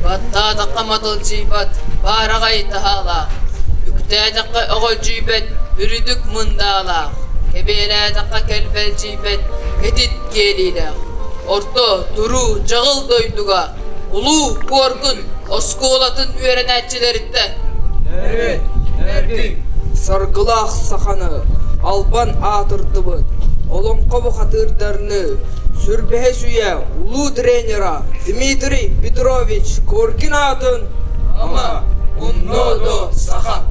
Баттаатахха матылдьыйбат, баараҕай таһаалаах, үктээтэххэ оҕолдьуйбат үрдүк мындаалаах, кэбиэлээтэххэ кэлбэлдьи Мэтит киэриилээх, орто, туруу, дьаҕыл дойдуга улуу Куоргун оскуолатын үөрэнээччилэриттэн төрүт, төрдүк, саргылаах саханы албан аатырдыбыт олоҥхо бухатыырдарını сүрбэһис-үйэ улуу тренера Дмитрий Петрович Коркин аатын ама, умноо-до саха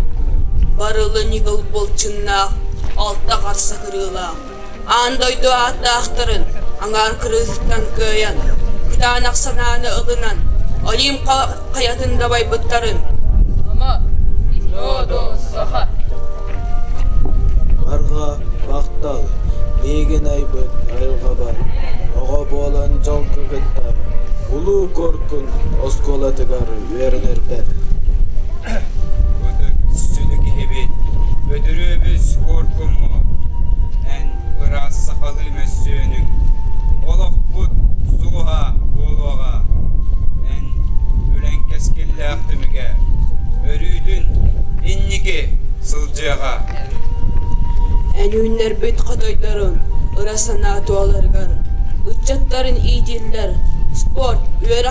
барылын иһил былчыннаах, алта харса кырыылаах Аан дойду ааттаахтарын аҥаар кырыытыттан кыайан, кытаанах санааны ылынан, Олимп хайатын дабайбыттарын. Ама, Родос Саха Барҕа махтал, миигин айбыт айылҕабар, оҕо буолан дьалты кытта Улуу Коркун оскуолатыгар үөрэнэрбэр. Сүдү киһибит, Бөдүрүөбүс Куоркуммут, эн ыраас сахалыы мөссүөнүҥ, олохпут сууһа буолуоҕа. Эн үлэҥ кэскиллээх түмүгэ, өрүүтүн инники сылдьыаҕа. Өнүүннэрбит хотойдорун ыра санаа туоларыгар, ыччаттарын иитиллэр спорт үөрэх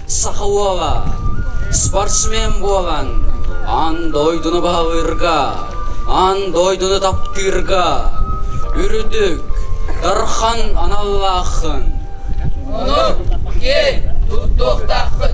Саха уола спортсмен буолан аан дойдуну баһылыырга, аан дойдуну таптыырга үрдүк дархан аналлааххын. Ону киэй туттуохтааххын.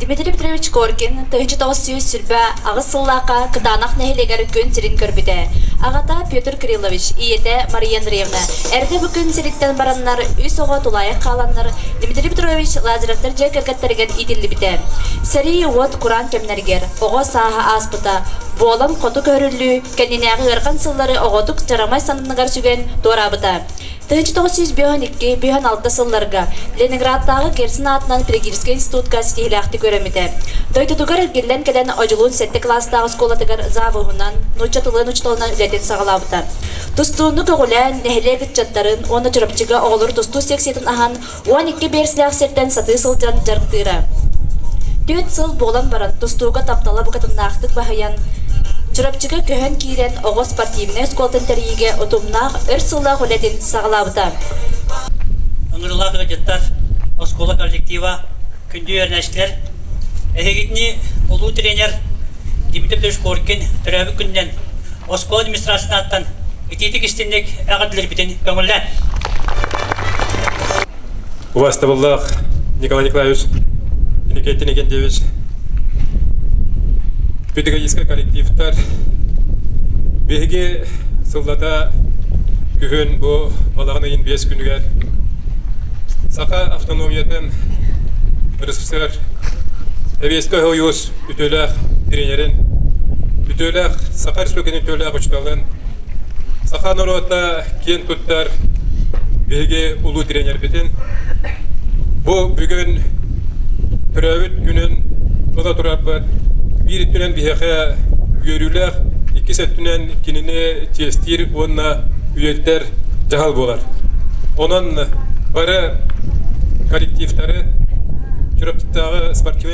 Дмитрий Петрович Коркин тыһыынча тоҕус сүүс сүүрбэ аҕыс сыллаахха Кытаанах нэһилиэгэр күн сирин көрбүтэ. Аҕата Петр Кириллович, ийэтэ Мария Андреевна эрдэ бу күн сириттэн бараннар үс оҕо тулаайах хааланнар Дмитрий Петрович Лазаревтар дьиэ кэргэттэригэр иитиллибитэ. Сэрии уот кураан кэмнэригэр оҕо сааһа ааспыта. Буолан хоту көһөрүллүү кэннинээҕи ыарахан сыллары оҕотук дьарамай сананыгар сүгэн туораабыта. 1902-1906 сылларга Ленинградтааҕы Герсен аатынан педагогическай институтка ситиһилээхтик үөрэммитэ. Дойдутугар эргиллэн кэлэн Одьулуун сэттэ кылаастаах оскуолатыгар завуһунан, нуучча тылын учууталынан үлэтин саҕалаабыта. Тустууну көҕүлээн, нэһилиэк ыччаттарын уонна Чурапчыга оҕолор тустуу секциятын аһан, Уон икки биэрсэлээх сиртэн сатыы сылдьан дьарыктыыра. Түөрт сыл буолан баран тустууга таптала букатыннаахтык баһыйан, Чурапчыга көһөн киирэн оҕо спортивнай оскуолатын тэрийиигэ утумнаах өр сыллаах үлэтин саҕалаабыта. Ыҥырылаах ыалдьыттар оскуола коллектива, күндү үөрэнээччилэр, эһигитини улуу тренер Дмитрий Шкоркин төрөөбүт күнүнэн оскуола администрациятыттан итиитик истинник эҕэрдэлэрбитин көҥүллээн. Убастабыллах Николай Николаевич Никита Никитевич педагогическай коллективтар биһиги сыллата күһүн бу балаҕан ыйын биэс күнүгэр Саха автономиятын ресурсар эбиэскэ хойуус үтүөлээх тренерин, үтүөлээх Саха Республикатын үтүөлээх учууталын, саха норуота киэн туттар биһиги улуу тренербитин. Бу бүгүн төрөөбүт күнүн тула турарбыт биир өттүнэн биһиэхэ үөрүүлээх, иккис өттүнэн кинини чиэстиир уонна үйэтитэр дьаһал буолар. Онон бары коллективтары Чурапчыттааҕы спортивный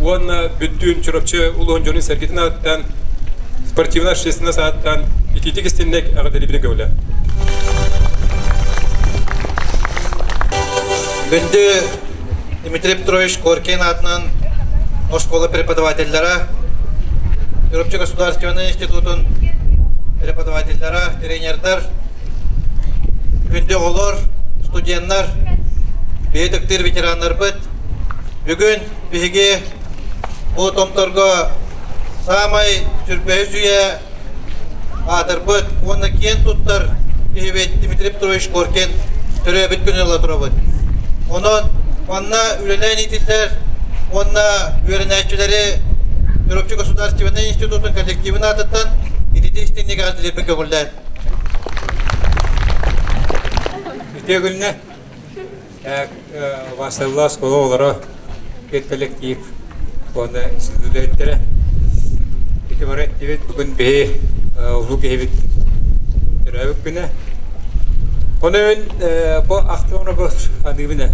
уонна бүттүүн Чурапчы улууһун дьонун сэргитин ааттан спортивнай общественнай сааттан ититик истинник аҕатэлибине көүлэ. Күндү Дмитрий Петрович Коркин атынан оскуола преподавателлара, Чурапчы государственный институтун преподавателлара, тренердар, күндү оҕолор, студеннар, бэйэ ветераннарбыт бүгүн биһиги бу Томторго саамай сүрбэ үсүйэ аатырбыт уонна киэн туттар киһибит Дмитрий Петрович Коркин төрөөбүт күнү ыла турабыт. Онон манна үлэлээн иитиллэр уонна үөрэнээччилэри Чурапчы государственнай институтун коллективин аатыттан итити истинник аҕатилербин көбүллэр. Итиэгүлнэ. Васыллаас кула олоро педколлектив уонна сүдүлээттэрэ. Ити бары эттибит бүгүн биһи улуу киһибит төрөөбүт күнэ. Онон бу автографы аныыбына.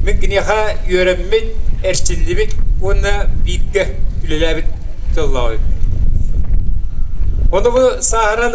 Мен киниэхэ үөрэммит, эрчиллибит уонна бииргэ үлэлээбит тыллаабыт. Оны bu сахаран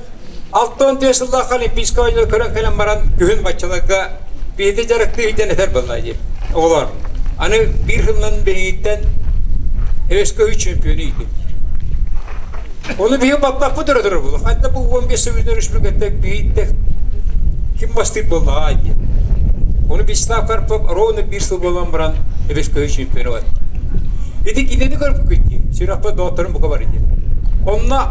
Алта уон тыһы сыллаах олимпийскай оонньуу көрөн кэлэн баран күһүн баччаларга биһиги дьарыктыы сылдьан этэр буолла дии. Оҕолор, аны биир сылынан биһиттэн СК3 чемпиону иитим. Оны биһи баппаппыт өрө турар булу. Ханна бу 15 сөгүлдер үшмүкеттек биһиттек ким бастык боллаға дей. Оны Вячеслав Карпов ровно bir сыл болан баран СК чемпиону бар. Ити кинини көріп күтті. Сүрақпа доғыттарым бұқа бар еді. Онна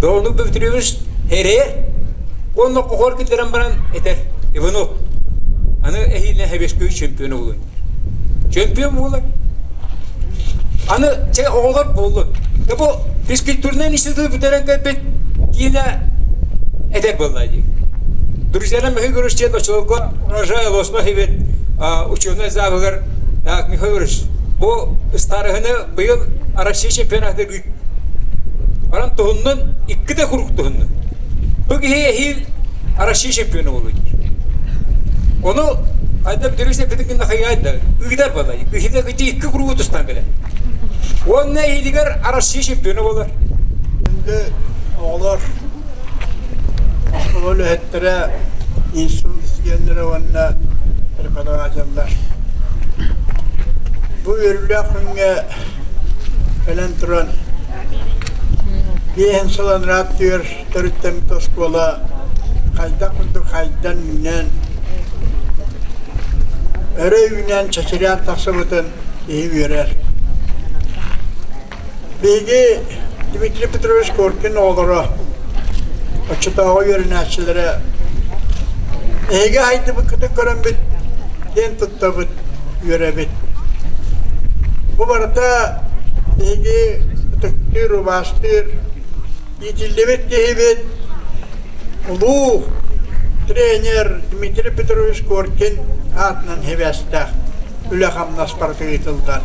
Да оннук бөбүтүрүөбүс эрэ уонна хоһор киллэрэн баран этэр Иванов аны эһиилэ Хэбэскөй чемпион оҕолун чемпион буолар аны чэ оҕолор буоллун да бу физкультурнай институт бүтэрэн кэлбит киинэ этэр буолла дии друзья Михаил Григорьевич диэн очолорго урожай Лосмах эбит ученый заавыгар так Михаил Григорьевич бу старыһыны быйыл Россия чемпионатыгар Баран туһуннун, иккитэ куруук туһуннун. Бу киһи эһиил Россия чемпиона болуй. Ону айда бүдүрүс эппитин гынна хайайда, ыытар балай, киһиде кити икки куруук тустан келе. Онна эһиилигер Россия чемпиона болар. Енді оҕолор ол өһөттөрө институтскиеллere уонна преподавателлар. Bu ürüle Өлөн туран биэһин сылан ырааттыыр төрүттэммит оскуола хайдах курдук хайдан үүнэн өрө үүнэн чэчирээн тахсыбытын киһи үөрэр. Биһиги Дмитрий Петрович Коркин оҕолоро, оччотооҕу үөрэнээччилэрэ эһиги айдыбыккытын көрөммүт диэн туттабыт. үөрэбит. Бу барыта биһиги ытыктыыр, убаастыыр, иитиллибит киһибит, улуу тренер Дмитрий Петрович Коркин аатынан сибээстээх үлэ-хамнас барыта ыытыллар.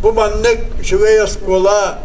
Бу маннык үчүгэй оскуола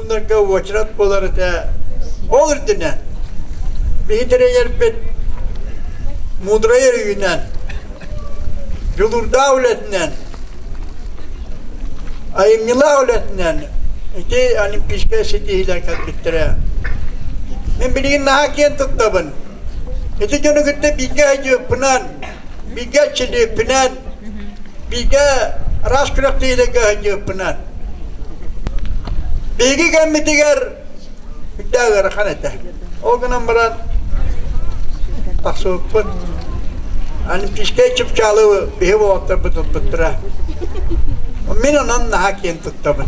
Маннарга уочарат буолар этэ. Ол үрдүнэн биһи тирэйэрбит мудрайар үйүнэн, дьулуурдаах үлэтинэн, айымньылаах үлэтинэн ити Олимпийскай ситиһиилэр кэлбиттэрэ. Мин билигин наһаа киэн туттабын. Ити дьону кытта бииргэ сылдьыппынан, бигэ чилииппинэн, бигэ рас күрэхтэһиилэргэ кыһынньыыппынан. Биһиги кэммитигэр үрдээх ыарахан этэ. Ол гынан баран тахсыбыппын. Олимпийскай чыпчаалы биһи уолаттарбыт туппуттара. Мин онон наһаа киэн туттабын.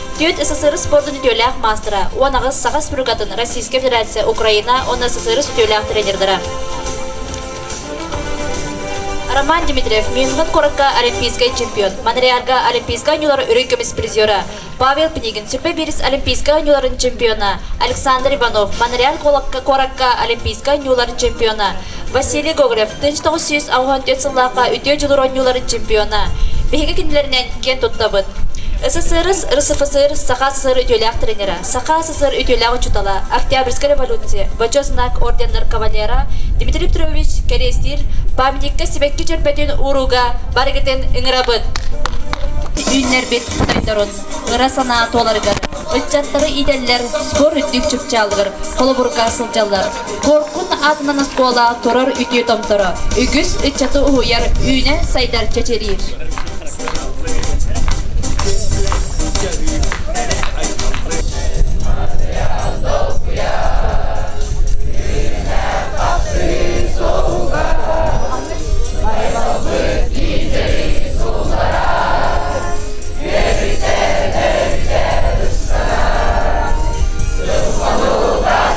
Түүт СССР спордун үтүөлээх маастара, уон аҕыс Саха Республикатын Российскай Федерация Украина уонна СССР үтүөлээх тренердара. Роман Дмитриев Мюнхен куоракка олимпийскай чемпион, Монреалга олимпийскай оонньуулар үрүҥ көмүс призера, Павел Пнигин сүппэ биирис олимпийскай оонньууларын чемпиона, Александр Иванов Монреаль куоракка олимпийскай оонньуулар чемпиона, Василий Гоголев, тыынч тоҕус сүүс аҕыһан түөрт сыллаахха үтүө дьулур оонньууларын чемпиона. Биһиги кинилэринэн киэн туттабыт. СССР РСФСР Саха СССР үтүөлээх тренера, Саха СССР үтүөлээх учутала, Октябрьская революция, Бочо знак орденнар кавалера Дмитрий Петрович Кэриэстиир памятникка сибэкки чөрбөтүн уурууга барыгытын ыҥырабыт! Үүннэрбит сайдарын, ыра санаа туоларыгар, ыччаттары иитэллэр спорт үрдүк чыпчаалыгар холобурга сылдьаллар. Коркун аатынан оскуола турар үтүө томторо, үгүс ыччаты уһуйар, үүнэн сайдар чэчириир.